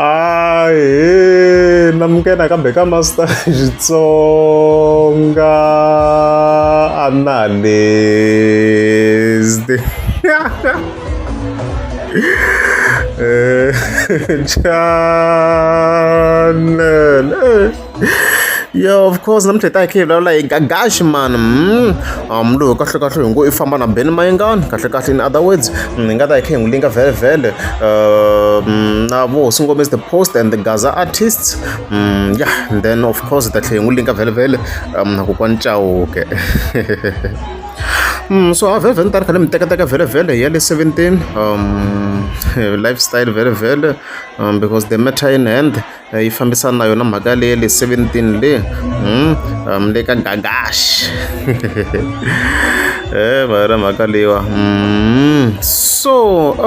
ahe na muke nakambe ka master xitsonga analyst eh, channel eh. yo of course na mitheta hi khe hi vulavula hi gagaxi mani um lowu kahlekahle hi ngo i famba na beni mayingani kahlekahle in other words hi nga ta hi khe hi n'wi linga vhelevhele um na vo hosi ngome is the post and the gaza artists um yeah and then of course hi ta tlhe hi n'wi linga vhelevhele um na kokwani cawuke Mm, so a vhele ni ta ri khale mi tekateka vhelevhele hi ya le 17 um lifestyle vhelevhele um because the matter in hand yi fambisana na yona mhaka leya le seventeen le um le ka gagash e va yona mhaka leyiwa so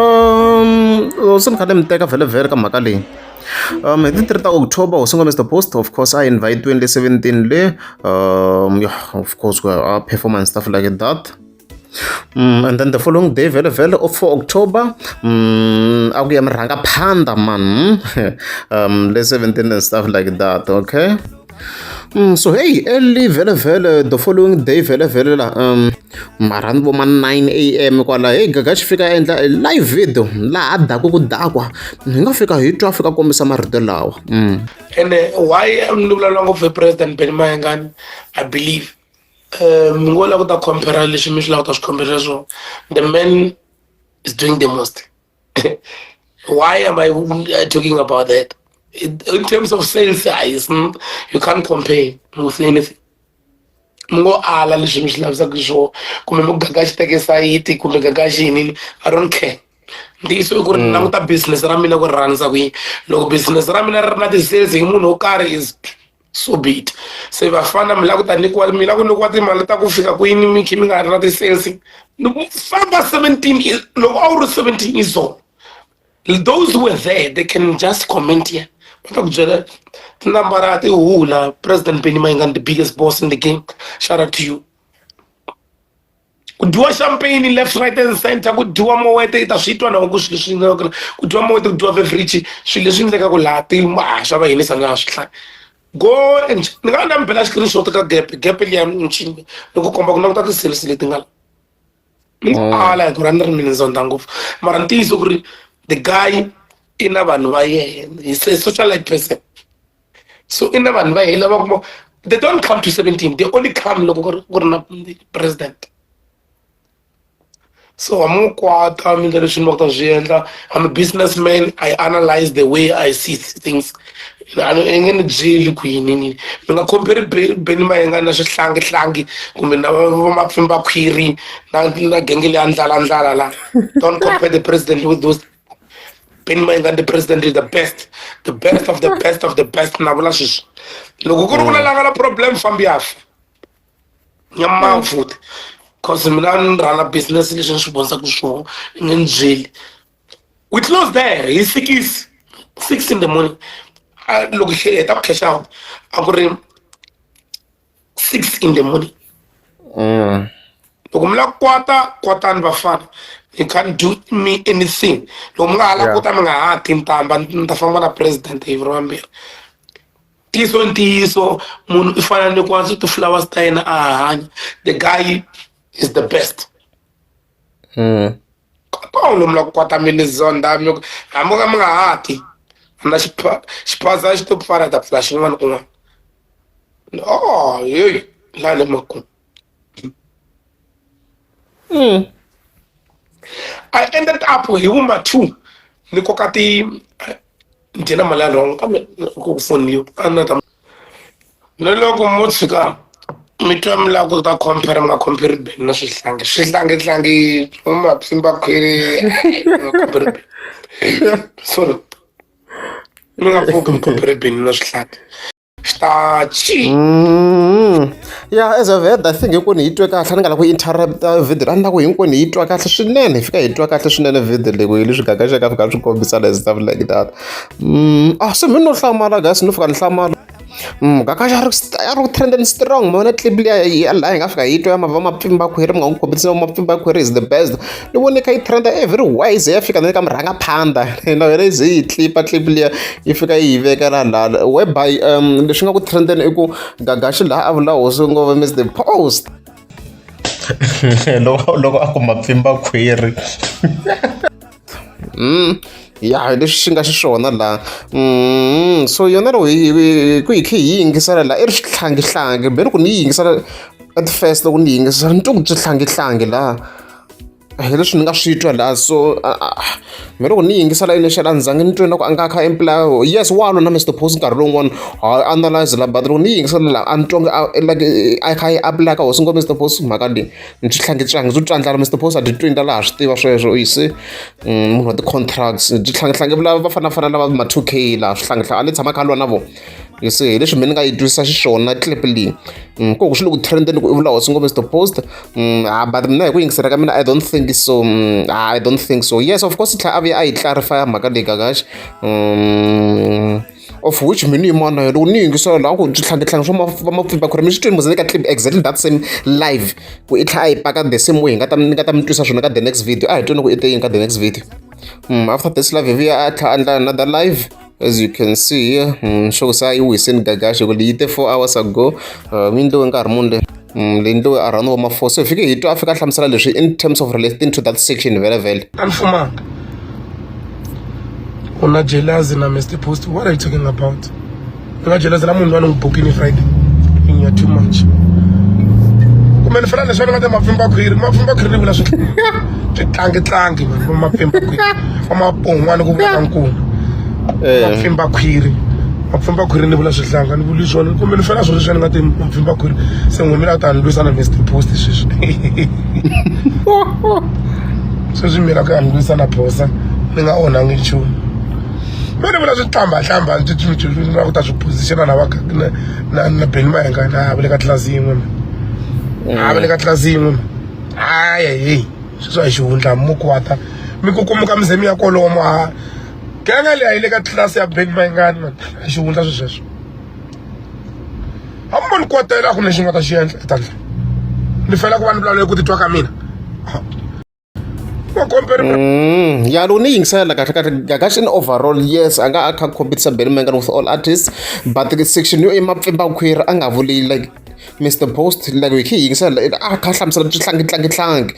um se ni kha ni mi teka vhele vhele ka mhaka leyi um hi ti three ta october hosi ngomesta post of course a invite-iwini le seventeen le um yeah of course ku a performance stuff like that Mm, and then the following day vele vele of 4 october mm, akuya mirhanga phanda man um le 17 and stuff like that okay mm, so hey early vele vele the following day vele vele la um mara ni vo ma 9 am kwala hey gaga xi fika endla live video laha daku ku dakwa hi nga fika hi twa fika kombisa marito lawa mm. ene why ni vulavula ngopfu hi president benimahengani i believe um mi ngo lava ku ta compara leswi mi swi lava ku ta swi khomberisa swona the man is doing the most why am i uh, talking about that in terms of sales size hmm, you can't compare with anything mi ngo ala leswi mi swi lavisaka swona kumbe mi gaga xiteke sayiti kumbe gaga xini i don't care ntiyiso i ku ri mm. languta business ra mina ku ri rhandza kuyini loko business ra mina ri ri na ti-sales hi munhu wo karhi is so be it se vafana mi la ku ta nyikiwa mi la ku nyikiwa timali ta ku fika kwini mi khe mi nga ri na ti-sense famba seventeen loko a wu ri seventeen years old those who were there they can just comment here va ta ku byela tinambara ti hula president benny mayengani the biggest boss in the game shout out to you ku dyiwa champagne left right and center ku dyiwa mowete i ta swi twa na ku swilo leswi endlekaka ku dyiwa mowete ku dyiwa beverage swilo leswi endlekaka laha ti ha swa va yinisa na swi hlaya go and ni nga na mi bela screenshot ka gap gap liya ni ncini ni ku komba ku languta ti-series leti nga la ni oh. ala hi ku ra ni ri mina zonda ngopfu mara ntiyiso ku ri the guy i na vanhu va yena he's a socialite person so i na vanhu va hina va kuma they don't come to 17 they only come loko ku ri na president so I'm a kwata mi ndlela swinhu va kuta swi endla i'm a businessman i analyze the way i see things i nge ni byeli ku yini ni nga compare beni mayenga na swihlangi-hlangi kumbe na vamapfimbakhwiri na na genge leya ndlalandlala la don't compare the president with those beni mayinga ndi president is the best the best of the best of the best na vula sweswi loko ku ri vula langa la problem fambi yafa nyamawu futhi cause mina ni rhana business leswi ni swi vonisaka swona ni ni byeli we close there hi sikisi six in the morning loko hi heta ku cash out a ku ri six in the morning mm. loko mi la kota kotani vafana you can't do me anything loko mi nga ha la yeah. kota mi nga ha ti ntamba ni ta famba na president hi viro vambirhi ntiyiso ntiyiso munhu i fana ni kwanso ti-flowers ta yena a hanya the guy is the best mm. kota uno mula kukwata milizonda hambi ka mi nga hati na xiphaza xi to pfala ta pfula xin'wana kun'wana o yeyi la le makumu mm. i ended up hi vuma two ni koka ti ndzi na mali ya rhongo kambe ku pfuniwa a ni ta ni loko mo tshuka mi twa mi lava ku ta compare mi nga compare beni na swihlangi swihlangihlangi swa mapsimba khwiri sorry mi nga pfuki mi compare beni na swihlangi xitachi mm. ya as a ved i think hinkwenu hi twe kahle a ni nga la ku interrupta uh, video a ni la ku hinkwenu hi twa kahle swinene hi fika hi twa kahle swinene video leyi hi leswi gaga xaka fika swi kombisana as stuff like that mm. ah se mi no hlamala gasi no fika ni hlamala mm, gaga ya ri ya ri trend and strong mona clip leyi ya laha hi nga fika hi twa ya mava mapfimba khwiri mi nga n'wi kombisa mapfimba khwiri is the best ni vone kha yi trenda every wise ya fika na le ka murhangaphandha na yona yi ze yi tlipa clip liya yi fika yi yi veka la lala whereby um leswi nga ku trendeni i ku gagaxi laha a vula hosi ngo va miss the post loko loko a kuma pfimba khwiri mm ya leswi swi nga xiswona la mm so yona loko ku hi khe hi yingisela la i ri xihlangihlangi beni ku ni yi yingisela at first loko ni yingisela ni twa ku byi hlangihlangi laha a hi leswi ni nga swi twa laha so mi loko ni yingisela initial a ni zange ni twe na ku a nga kha imply yes wa lona mr post nkarhi lowun'wana ha analyze la but loko ni yingisela laha a ni twange like a kha yi apply ka hosi ngo mr post mhaka leyi ni swi tlhange swi hange swi twandlala mr post a ti twi ndla laha swi tiva sweswo yi se mm, munhu wa ti-contracts byi tlhangetlhange va fanafana lava ma-two k laha swi tlhangetlhange a ni tshama kha lwa na vona you see hi leswi mina ni nga yi twisisa xiswona clip leyi mm, ku ku swi le ku trendeni ku i vula hosi ngombe stopost mm, ah, but mina hi ku yingisela ka mina i don't think so mm, ah, i don't think so yes of course i tlhela a vuya a yi clarify mhaka leyi gagaxi of which mina ni yimana yona loko ni yingisela laha ku switlhangetlhange swa va mapfimba khore mi swi twini muze ni ka clip exactly that same live ku i tlha a yi paka the same way hi nga ta ni nga ta mi twisa swona ka the next video a hi twini ku i te yini ka the next video mm, after this live hi vuya a tlha a endla another live as you can see here mm, sho ku se a yi wisini gagaxi ku leyi te four hours ago uh, mi ndliwe nkarhi muni le mm, leyi ndliwe around wa ma-four so hi fike hi twa a fika a hlamusela leswi in terms of relating to that section vele vele a ni fumanga u na jelazi na mr post what are you talking about ni nga jelazi la munhu loyi a ni n'wi bukini friday inya too much kumbe ni fela leswi a ni nga ta mapfimba khwiri mapfimba khwiri ni vula swi tlangitlangi vanhu va mapfimba khwiri wa mapongo n'wana ku vula nkulu mapfimba khwiri mapfimba khwiri ni vula swihlanga ni vuli swona kumbe ni fela swona swona nga ti mapfimba khwiri se n'wimi la ta ni lwisa na mr post sweswi sweswi mina ku ya ni lwisa na phosa ni nga onhangi nchumu me ni vula swihlambahlamba na ku ta swi positiona na na na beni mayenga na va le ka tlilasi yin'we a va le ka tlilasi yin'we hayi heyi sweswi a hi xihundla mi kwata mi kukumuka mi ze mi ya kolomo a genge leyi a yi le ka tlilasi ya bank mayingani man a hi xihundla swi sweswo a mi voni kwatela a ku lexi nga ta xi endla etandla ni fela ku va ni vulavula ku titwa ka mina Mm, ya lo ni yingisela kahle kahle ngakaxi in overall yes a nga a kha competisa belly mangan with all artists but section yo emapfimba khwiri a nga vuli like Mister Post loko hi kha hi yingisela a kha hlamusela swihlangi tlangi tlangi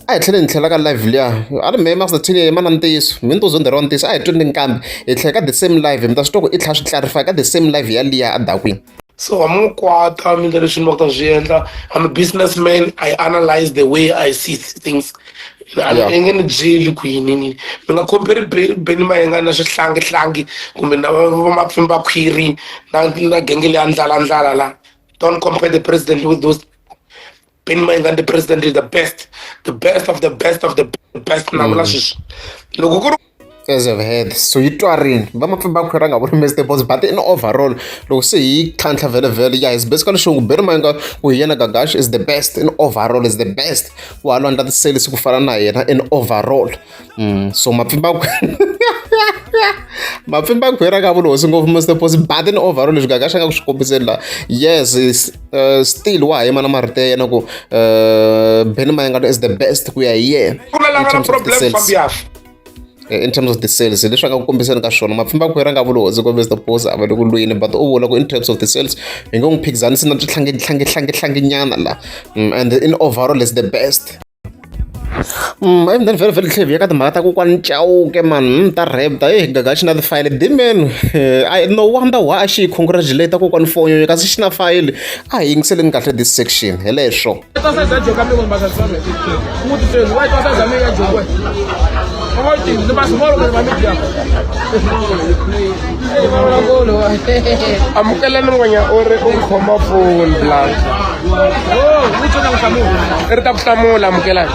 a hi tlheleni hi tlhela ka live liya a ri mehe Master Thin yena na ntiyiso mi ni to zonde ro ntiyiso a hi twini kambe hi tlhela ka the same live mi ta swi twa ku i tlhela swi clarify ka the same live ya liya a dakwini so a mi kwata mina lexi ni va ku ta swi endla I'm a business man I analyze the way I see things a nge ni byeli ku yini ni mi nga khomperi beni mayenga na swihlangi-hlangi kumbe na vamapfimbakhwiri na na genge leya ndlalandlala la don't compare the president with those beni mayenga the president is the best the best of the best of the best na vula mm. sweswi loko ku ri as of head so yi twarini va mapfimbakhwira nga vuri mr boss but in overall loko se hi tlhantlha vhele vhele ya is basically xongu beri mayinga ku hi yena gagash is the best in overall is the best ku halo andla tiselisi ku fana na yena in overall mm, so mapfimbakhwira mapfimbakhwira ka vulohosi ngopfu mr boss but in overall leswi gagash a nga ku swi kombiseni laha yes is, uh, still wa ha yima na marito ya yena ku uh, beni mayinga is the best ku ya hi yena in terms of the sales hi leswi a nga ku kombiseni ka swona mapfimba khwera nga vuli hosi kombisa the boss a va le ku lwini but u vula ku in terms of the sales hi nge n'wi phikizanisi na switlhangetlhangetlhangetlhange nyana la mm, and in overall is the best Mm, and then very very clever yaka timhaka ta kokwani chauke mani mm, ta rap ta e gaga xi na tifayele dimen i no wonder why a xi yi congratulate kokwani fonyo kasi xi na fayele a hi yingiseleni kahle this section hi leswo amukelani n'wenya u ri u khoma foni blas ri ta ku hlamula amukelani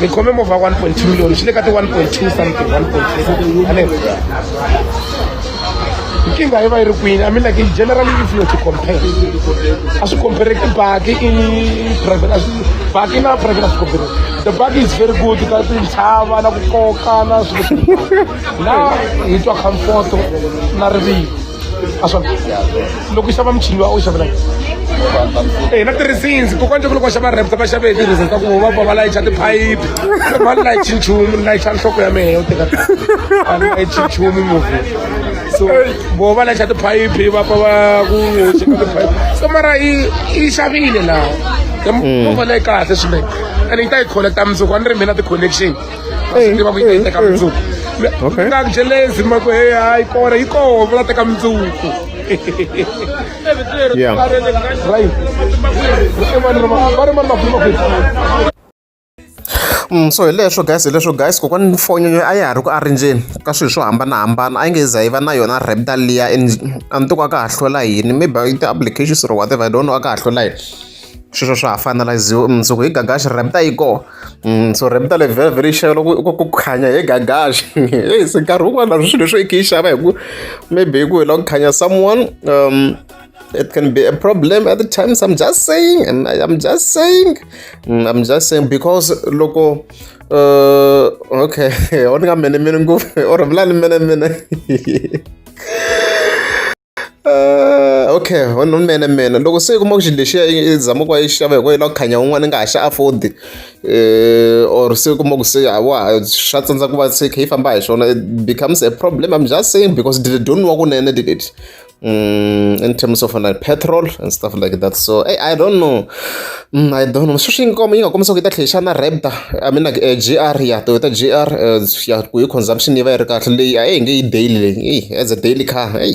ni khome movha 1.2 million xi le ka ti 1.2 something 1.3 ane nkingha yi va yi ri kwini i mean like in generally if you to compare a swi compareki baki i private baki na private a swi compare the baki is very good ka tintshava na ku koka na swilo na hi twa comfort na rivilo a swa loko xava muchini wa u xavela eh na tirhisini kokwana nje loko xava reps va xave tirhisini ka ku va va va layicha tiphayiphi va layicha nchumu layicha nhloko ya mehe yo teka va layicha nchumu muvi so vo va layicha tiphayiphi va va ku cheka tiphayiphi so mara yi yi xavile laha movha leyi kahle swinene ene yi ta yi collecta mundzuku a ni ri mina ti-connection Hey, tiva ku yi ta yi teka hey, hey. mundzuku Okay. nga jelezi ma ku hey hayi kona yi kona va la teka mundzuku Yeah. right va ri mani va ri mani makhulu makhulu Mm, so hi leswo guys hi leswo guys kokwani foni yo a ya ha ri ku arinjeni ka swilo swo hambanahambana a yi nge za yi va na yona reptal liya and a ni to ka a ka ha hlola yini maybe i ti-applications or whatever i don't know a ka ha hlola yini sweswo swa ha fanaliziwa mundzuku hi gagaxi rabita yi kona mm, so rabita le very very xava loko ku ku khanya hi gagaxi hey se nkarhi wun'wana na swilo swo i khe yi xava hi ku maybe hi ku hi lava ku khanya someone um, it can be a problem at the times i'm just saying and I, i'm just saying mm, i'm just saying because loko uh, okay o ni nga mene mene ngopfu or vula ni mene mene Uh, okay unene mina loko se u kuma ku xilo lexiya i zama ku va yi xava hikuva yi lava ku khanya un'wana i nga ha xa afford eh, or se u kuma ku se wa swa tsandza ku va se kha yi famba hi swona it becomes a problem i'm just saying because dile don't wa kunene dileti um mm, in terms of like petrol and stuff like that so hey, i don't know Ina I don't know sweswi yi yi nga kombisa ku yi ta tlhela yi xana Raptor I mean like G_R ya Toyota G_R ya ku yi consumption yi va yi ri kahle leyi a yi nge yi daily leyi heyi as a daily car heyi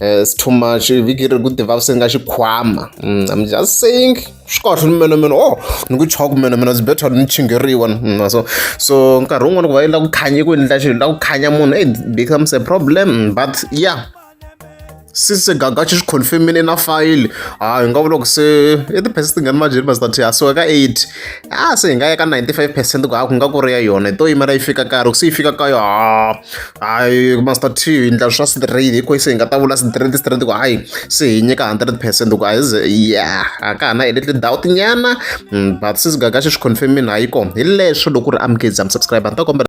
it's too much vhiki leri ku ti vaviseke nga xikhwama I'm just saying swi kahle ni mina mina oh ni ku chava ku mina mina it's better ni chingeriwa na so so nkarhi wun'wani ku va yi lava ku khanya ku endla xilo yi lava ku khanya munhu it becomes a problem but ya. since se gaga xi swi confirmile na fayili ha hi nga vula ku se i ti-percent tingani majeri ma zitati ha so ka eight a se hi nga ya ka ninety five percent ku ha ku nga ku ri ya yona hi to yimela yi fika karhi ku se yi fika ka yo ha hayi master t hi ndla swa straight hi kho se hi nga ta vula straight straight ku hayi se hi nyika hundred percent ku hayi ya a ka ha na hi leti doubt nyana hmm, but since gaga xi swi confirmile ha yi kona hi leswo loko ri amukezi am subscribe a ni ta kombela